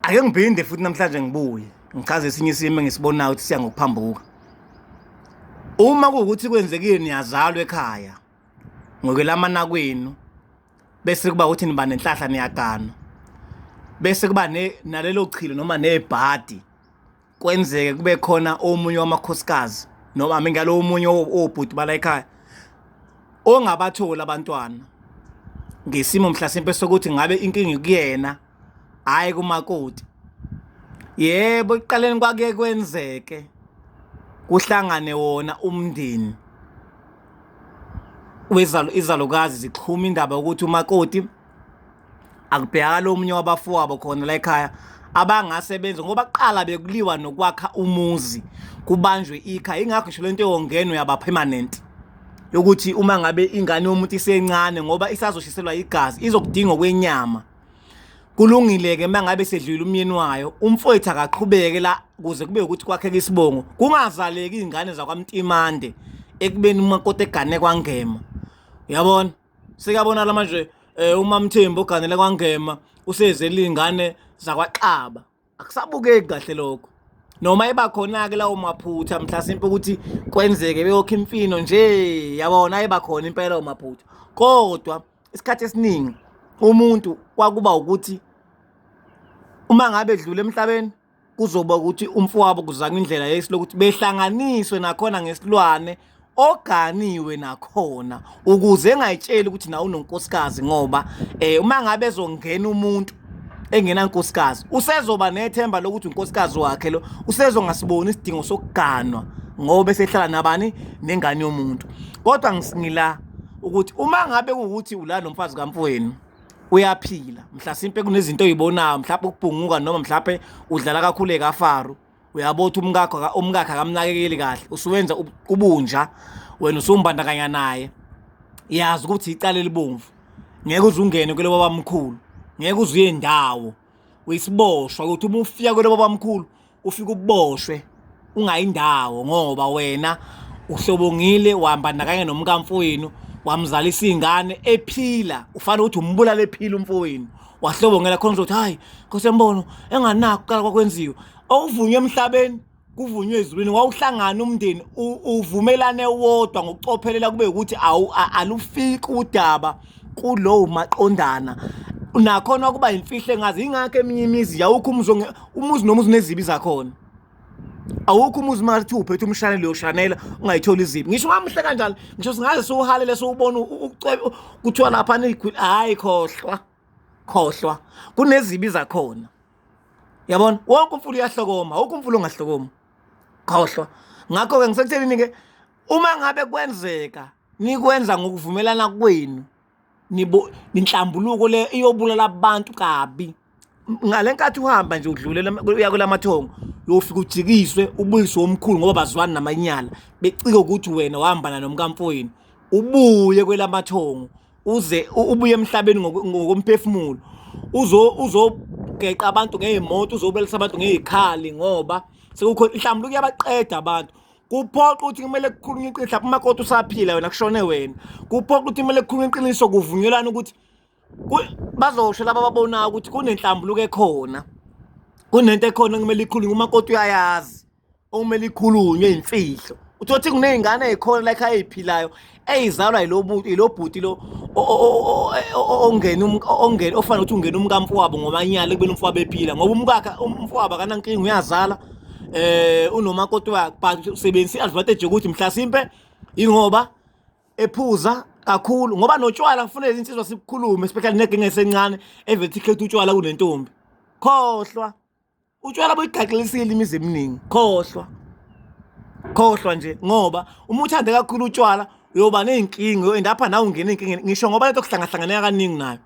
ake ngiphinde futhi namhlanje ngibuye ngichaze esinye isimo engisibonayo ukuthi siya ngokuphambuka uma kuwukuthi kwenzekile niyazalwa ekhaya ngokwelamana kwenu bese kuba ukuthi niba nenhlahla niyagana bese kuba nalelo chilo noma nebhadi kwenzeke kube khona omunye wamakhosikazi noma ami ngalo omunye obhuti bala ekhaya ongabathola abantwana ngesimo mhlasimpe sokuthi ngabe inkinga kuyena hayi kumakoti yebo ekuqaleni kwake kwenzeke kuhlangane wona umndeni wezalo izalukazi zixhuma indaba ukuthi umakoti akubhekakala omunye wabafowabo khona la ekhaya abangase benze ngoba kuqala bekuliwa nokwakha umuzi kubanjwe ikha ingakho ngisho lento yongenwe yaba permanent yokuthi uma ngabe ingane yomuntu isencane ngoba isazoshiselwa igazi izokudinga kwenyama kulungile-ke uma ngabe sedlule umyeni wayo umfowethu akaqhubeke la kuze kube ukuthi kwakheka isibongo kungazaleki iy'ngane zakwamtimande ekubeni umakoti egane kwangema uyabona Sekabonala manje eh uMamthembu oganele kwaNgema usezele ingane zakwaXaba. Akusabukeki kahle lokho. Noma eba khona ke lawo maphutha mhlasimpe ukuthi kwenzeke beyokho imfino nje yabona eba khona impela lawo maphutha. Kodwa isikhathi esiningi umuntu kwakuba ukuthi uma ngabe edlule emhlabeni kuzoba ukuthi umfowabo kuzanywa indlela yesi lokuthi behlanganiswe nakhona ngesilwane oganiwe nakhona ukuze engayitsheli ukuthi nawe unonkosikazi ngoba eh uma ngabe ezongena umuntu engena nkosikazi usezoba nethemba lokuthi unkosikazi wakhe lo usezongasiboni isidingo sokuganwa ngoba esehlala nabani nengane yomuntu kodwa ngisingila ukuthi uma ngabe ukuthi ulana nomfazi kamfowenu uyaphila mhlasimpe kunezinto oyibonayo mhlawumbe ukubhunguka noma mhlawumbe udlala kakhulu ekafaru uyabo ukuthi umkakho umkakhe akamnakekeli kahle usuwenza kubunja wena usumbandakanya naye yazi ukuthi icala elibomvu ngeke uze ungene kuloba bamkhulu ngeke uze uye ndawo uyisiboshwa ukuthi uma ufika kwelabo bamkhulu ufike uboshwe ungayindawo ngoba wena uhlobongile wahamba nakanye nomkamfowenu wamzalisa izingane ephila ufanele ukuthi umbulala ephila umfowenu wahlobongela khona ukuthi hayi nkosi yembono enganakho kuqala kwakwenziwa okuvunywe emhlabeni kuvunywe ezulwini wawuhlangana umndeni uvumelane wodwa ngokucophelela kube ukuthi alufiki udaba kulowo maqondana nakhona ukuba imfihle ngazi ingakho eminye imizi yawukho umuzi umuzi nomuzi unezibi zakhona awukho umuzi uma kuthi uphethe umshanelo uyoshanela ungayitholi izibi ngisho ungamuhle kanjani ngisho singaze siwuhalele siwubona kuthiwa lapha hhayi khohlwa khohlwa kunezibi zakhona yabona wonke umfula uyahlokoma wonke umfula ungahlokoma khohlwa ngakho-ke ngisekuthenini-ke uma ngabe kwenzeka nikwenza ngokuvumelana kwenu ninhlambuluko le iyobulala abantu kabi ngale nkathi uhamba nje udlulela uya kulamathongo uyofika ujikiswe ubuyiswe omkhulu ngoba bazwani namanyala becike ukuthi wena wahambana nomkamfowenu ubuye kwelamathongo uze ubuye emhlabeni ngokomphefumulo uzo uzogeqa abantu ngeyimoto uzobelisa abantu ngezikhali ngoba sekukho mhlawumbe kuyabaqeda abantu kuphoqa ukuthi kumele kukhulunywe iqiniso lapho umakoti usaphila wena kushone wena kuphoqa ukuthi kumele kukhulunywe iqiniso kuvunyelana ukuthi bazosho laba ababonayo ukuthi kunenhlambuluko ekhona kunento ekhona kumele ikhulunywe umakoti uyayazi okumele ikhulunywe imfihlo uthothi kunezingane ezikhona la ekhaya eziphilayo eyizalwa yilobhuti lo ongena ongena ofanele ukuthi ungena umkamfowabo ngomanyala ekubeni umfowabo ephila ngoba umkakhe umfowabo akanankinga uyazala eh unomakoti wakhe but usebenzisa i-advantage yokuthi mhlasimpe ingoba ephuza kakhulu ngoba notshwala kufanele insizwa sibukhulume especially negenge esencane evele ikhetha utshwala kunentombi khohlwa utshwala boyigaxilisile imizi eminingi khohlwa khohlwa nje ngoba uma uthande kakhulu utshwala uyoba ney'nkinga uyoenda apha nawe ungena ey'nkingeni ngisho ngoba lento kuhlangahlanganeka kaningi nayo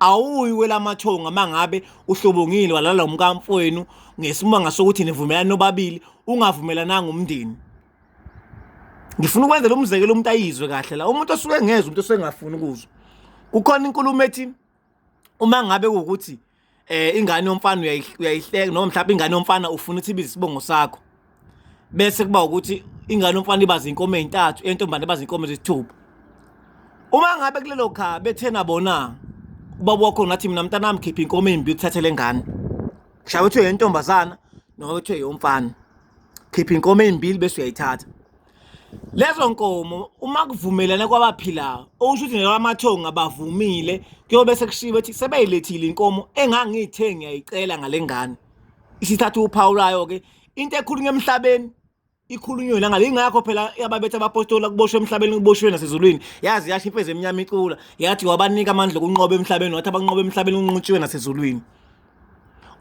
awuyi kwelamathonga uma ngabe uhlobongile walala umkamfowenu ngesimanga sokuthi nivumelane nobabili ungavumelananga umndeni ngifuna ukwenzela umzekelo umuntu ayizwe kahle la umuntu osuke engezwa umuntu osengafuni ukuzwa kukhona inkulumo ethi uma ngabe ukuthi eh ingane yomfana uyayihleka noma mhlawumbe ingane yomfana ufuna ukuthi ibize isibongo sakho bese kuba ukuthi ingane yomfana ibaza inkomo ezintathu entombane ibaza inkomo ezithupha uma ngabe kulelo kha bethena bona ubaba wakho ngathi mina mntanami khipha inkomo embi uthathe lengane kushaye ukuthi uyentombazana noma ukuthi uyomfana khipha inkomo ezimbili bese uyayithatha lezo nkomo uma kuvumelane kwabaphilayo okusho ukuthi nelwamathongo abavumile kuyobe sekushiwo ukuthi sebeyilethile inkomo engangiyithe ngiyayicela ngale ngane isithatha uphawu layo ke into ekhulunywa emhlabeni ikhulunywe la ngale ingakho phela yababetha abapostola kuboshwe emhlabeni kuboshwe nasezulwini yazi yasho imfezi emnyama icula yathi wabanika amandla okunqoba emhlabeni wathi abanqoba emhlabeni unquntshiwe nasezulwini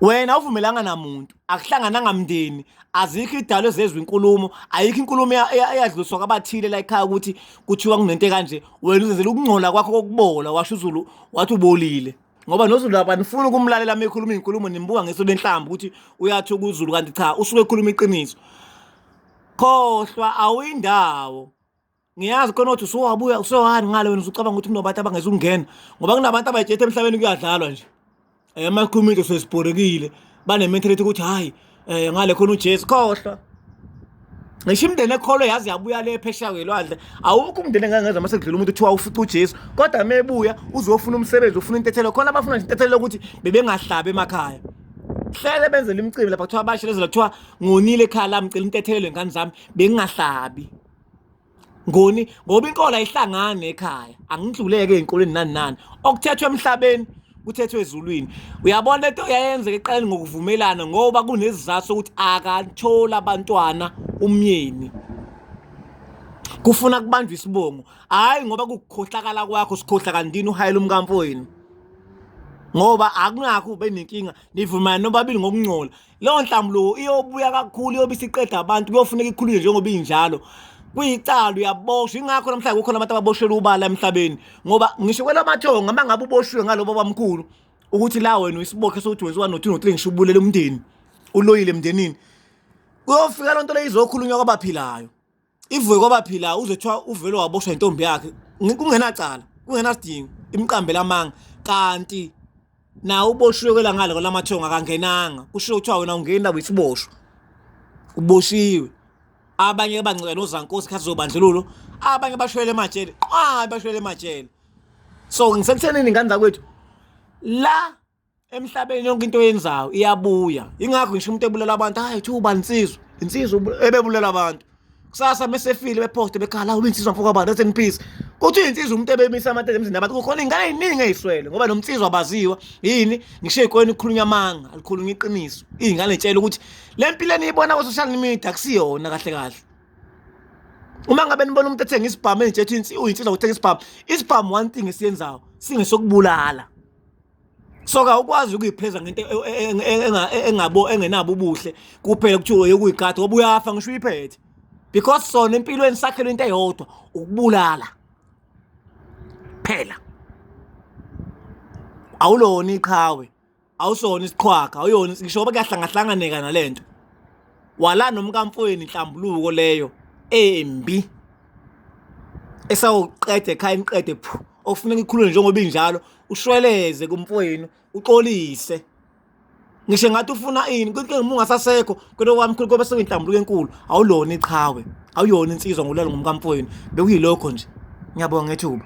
wena uvumelanga namuntu akuhlangananga mndeni azikho idalo ezezwe inkulumo ayikho inkulumo eyadluliswa kwabathile la ekhaya ukuthi kuthiwa kunento kanje wena uzenzela ukungcola kwakho kokubola washo uzulu wathi ubolile ngoba nozulu abanifuni ukumlalela uma ekhuluma iy'nkulumo nimbuka ngeso lenhlamba ukuthi uyathi ukuzulu kanti cha usuke ekhuluma iqiniso khohlwa awuyindawo ngiyazi khona ukuthi usuwabuya usewani ngale wena usucabanga ukuthi kunabantu abangezungena ngoba kunabantu abayijethe emhlabeni kuyadlalwa nje um amakhumile sesibhorekile banementality ukuthi hhayi um eh, ngale khona ujesu khohlwa ngisho imndeni ekholwe yazi yabuya le phesheya kwelwandle awukho umndeni engangeza uma sekudlula umuntu kuthiwa ufica ujesu kodwa uma ebuya uzofuna umsebenzi ufuna intethelo khona abafuna nje intethelo lokuthi bebengahlabi emakhaya hlele benzela imicimbi lapha kuthiwa bashelezela kuthiwa ngonile ekhaya lami cela intethelelo ngani zami bengingahlabi ngoni ngoba inkolo ayihlangani ekhaya angidluleke ezinkolweni nani nani okuthethwe emhlabeni kuthethwe ezulwini uyabona lento yayenzeka eqaleni ngokuvumelana ngoba kunezizathu sokuthi akathola abantwana umyeni kufuna kubanjwa isibongo hayi ngoba kukukhohlakala kwakho sikhohla kantini uhayela umkamfowenu ngoba akunakho ube nenkinga nivumana nobabili ngokungcola leyo nhlambuluko iyobuya kakhulu iyobe isiqeda abantu kuyofuneka ikhulunywe njengoba injalo kuyicala uyaboshwa ingakho namhlanje kukhona abantu ababoshelwa ubala emhlabeni ngoba ngisho kwelamathongo uma ngabe uboshiwe ngalobo bamkhulu ukuthi la wena uyisibokhe sokuthi wenziwa no-two no-three ngisho ubulele umndeni uloyile emndenini kuyofika loo nto leyo izokhulunywa kwabaphilayo ivuke kwabaphila uze kuthiwa uvele waboshwa intombi yakhe kungenacala kungenasidingo imqambela amanga kanti nawe uboshiwe kwelangale kwelamathongo akangenanga kushiwo kuthiwa wena ungeni labo isiboshwa uboshiwe abanye bancela nozankosi khathi zobandlululo abanye bashwele emajele qwa bashwele emajele so ngisekuthenini ngane zakwethu la emhlabeni yonke into oyenzayo iyabuya ingakho ngisho umuntu ebulala abantu hayi kuthiwa uba insizwa insizwa ebebulala abantu kusasa mesefile beposte bekhala ube insizwa mfoka abantu rest in peace kuthi insizwa umuntu ebemisa amathe emzini abantu kukhona ingane eziningi eziswele ngoba nomnsizwa abaziwa yini ngisho ikwena ikhulunya amanga alikhulunya iqiniso izingane zitshela ukuthi lempilo eniyibona ku social media kusiyona kahle kahle uma ngabe nibona umuntu ethenga isibhamu enje ethi uyinsizwa uthenga isibhamu isibhamu one thing esiyenzayo singesokubulala so kawukwazi ukuyipheza ngento engabo engenabo ubuhle kuphela kuthiwa yokuyigada ngoba uyafa ngisho uyiphethe because sona empilweni sakhelwe into eyodwa ukubulala phela awulona iqhawe awusona isiqhwaga awuyona ngisho ngoba kuyahlangahlanganeka nalento wala nomkamfweni inhlambuluko leyo embi esawuqeda ekhaya imqede phu okufuneka ikhulule njengoba injalo ushweleze kumfowenu uxolise ngisho ngathi ufuna ini konke uma ungasasekho kodwa kwamkhulu kobe sewinhlambuluko enkulu awulona iqhawe awuyona insizwa ngulalo ngumkamfowenu bekuyilokho nje ngiyabonga ngethuba